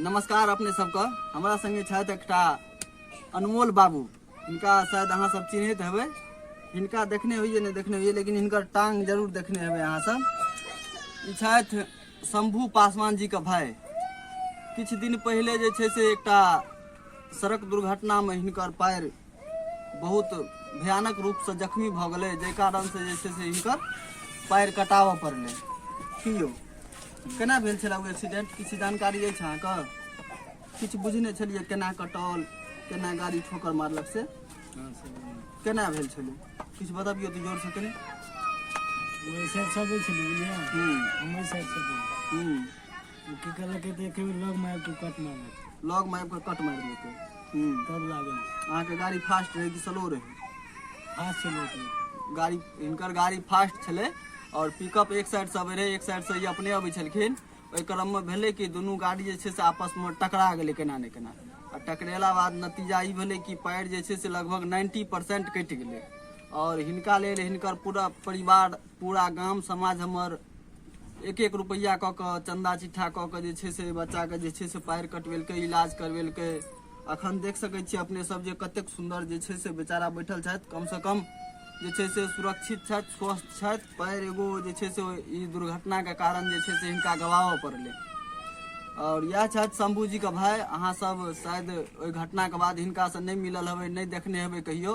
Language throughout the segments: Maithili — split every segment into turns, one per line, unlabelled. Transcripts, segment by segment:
नमस्कार अपने सबके हमरा संगे छथि एकटा अनमोल बाबू हिनका शायद अहाँ सब चिन्हैत हेबै हिनका देखने होइए नहि देखने होइए लेकिन हिनकर टांग जरूर देखने हेबै अहाँ सब ई छथि शंभू पासवान जी के भाई किछु दिन पहिले जे छै से एकटा सड़क दुर्घटनामे हिनकर पैर बहुत भयानक रूपसँ जख्मी भऽ गेलै जाहि कारणसँ जे छै से हिनकर पैर कटाबऽ पड़लै की यौ केना भेल छलए ओ एक्सीडेंट किछु जानकारी अछि अहाँके किछु बुझने छलियै केना कटल केना गाड़ी ठोकर मारलक से केना भेल छलै किछु बतबियौ तऽ जोरसँ कनी वैसे सब छलै बुझलियै हूँ हम वैसे सब हूँ ओ की कहलकै तऽ एके बेर लग मारि कऽ कट मारि देतै लग मारि कऽ कट मारि देतै हूँ तब लागल अहाँके गाड़ी फास्ट रहै कि स्लो रहै फास्ट चलबैत रहै गाड़ी हिनकर गाड़ी फास्ट छलै आओर पिकअप एक साइडसँ अबै रहै एक साइडसँ ई अपने अबै छलखिन ओहि क्रममे भेलै कि दुनू गाड़ी जे छै से आपसमे टकरा गेलै केना ने केना आ टकरेला बाद नतीजा ई भेलै कि पैर जे छै से लगभग नाइन्टी परसेंट कटि गेलै आओर हिनका लेल हिनकर पूरा परिवार पूरा गाम समाज हमर एक एक रुपैआ कऽ कऽ चन्दा चिट्ठा कऽ कऽ जे छै से बच्चाके जे छै से पाएर कटबेलकै इलाज करबेलकै अखन देख सकै छियै अपने सब जे कतेक सुन्दर जे छै से बेचारा बैठल छथि कमसँ कम जे छै से सुरक्षित छथि स्वस्थ छथि पैर एगो जे छै से ई दुर्घटनाके कारण जे छै से हिनका गवाबऽ पड़लै आओर इएह छथि शम्भूजीके भाय अहाँसभ शायद ओहि घटनाके बाद हिनकासँ नहि मिलल हेबै नहि देखने हेबै कहियो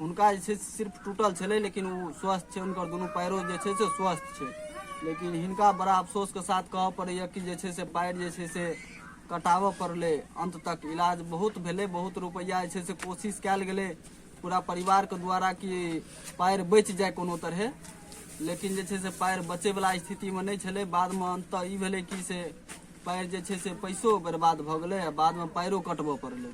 हुनका जे छै सिर्फ टूटल छलै लेकिन ओ स्वस्थ छै हुनकर दुनू पैरो जे छै से स्वस्थ छै लेकिन हिनका बड़ा अफसोसके साथ कहऽ पड़ैए कि जे छै से पैर जे छै से कटाबऽ पड़लै अन्त तक इलाज बहुत भेलै बहुत रुपैआ जे छै से कोशिश कयल गेलै पूरा परिवारके द्वारा कि पैर बचि जाए कोनो तरहे लेकिन जे छै से पैर बचैवला स्थितिमे नहि छलै बादमे अन्त ई भेलै कि से पैर जे छै से पैसो बर्बाद भऽ गेलै आ बादमे पैरो कटबऽ पड़लै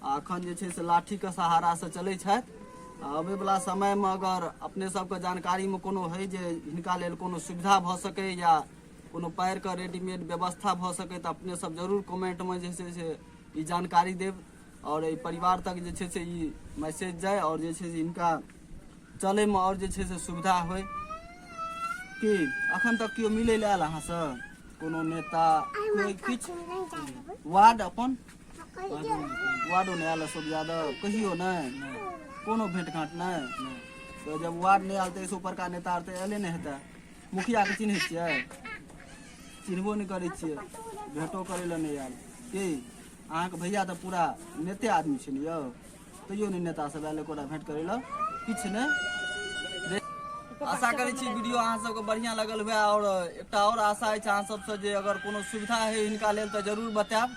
आ अखन जे छै से लाठीके सहारासँ चलै छथि आ अबैवला समयमे अगर अपने सबके जानकारीमे कोनो होइ जे हिनका लेल कोनो सुविधा भऽ सकै या कोनो पैरके रेडीमेड व्यवस्था भऽ सकै तऽ अपने सब जरूर कमेंटमे जे छै से ई जानकारी देब आओर एहि परिवार तक जे छै से ई मैसेज जाय आओर जे छै से हिनका चलैमे आओर जे छै से सुविधा होइ की अखन तक केओ मिलै लए आयल अहाँसँ कोनो नेता कोइ किछु वार्ड अपन वार्डो नहि आयल अशोक यादव कहियो नहि कोनो भेंट घाट नहि तऽ जब वार्ड नहि आयल तऽ एहिसँ ऊपरका नेता आर तऽ अयले नहि हेतै मुखियाके चिन्है छियै चिन्हबो नहि करै छियै भेंटो करै लए नहि आयल की अहाँके भैया तऽ पूरा नेते आदमी छै ने यौ तैयो नहि नेता सब आयल एकोटा भेंट करै लए किछु नहि आशा करै छी वीडियो अहाँ सबके बढ़िया लगल हुए और एकटा और आशा अछि अहाँ सबसँ जे अगर कोनो सुविधा है हिनका लेल तऽ जरूर बतायब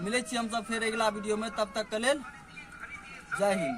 मिलै छी हमसब फेर अगिला वीडियोमे तब तक के लेल जय हिंद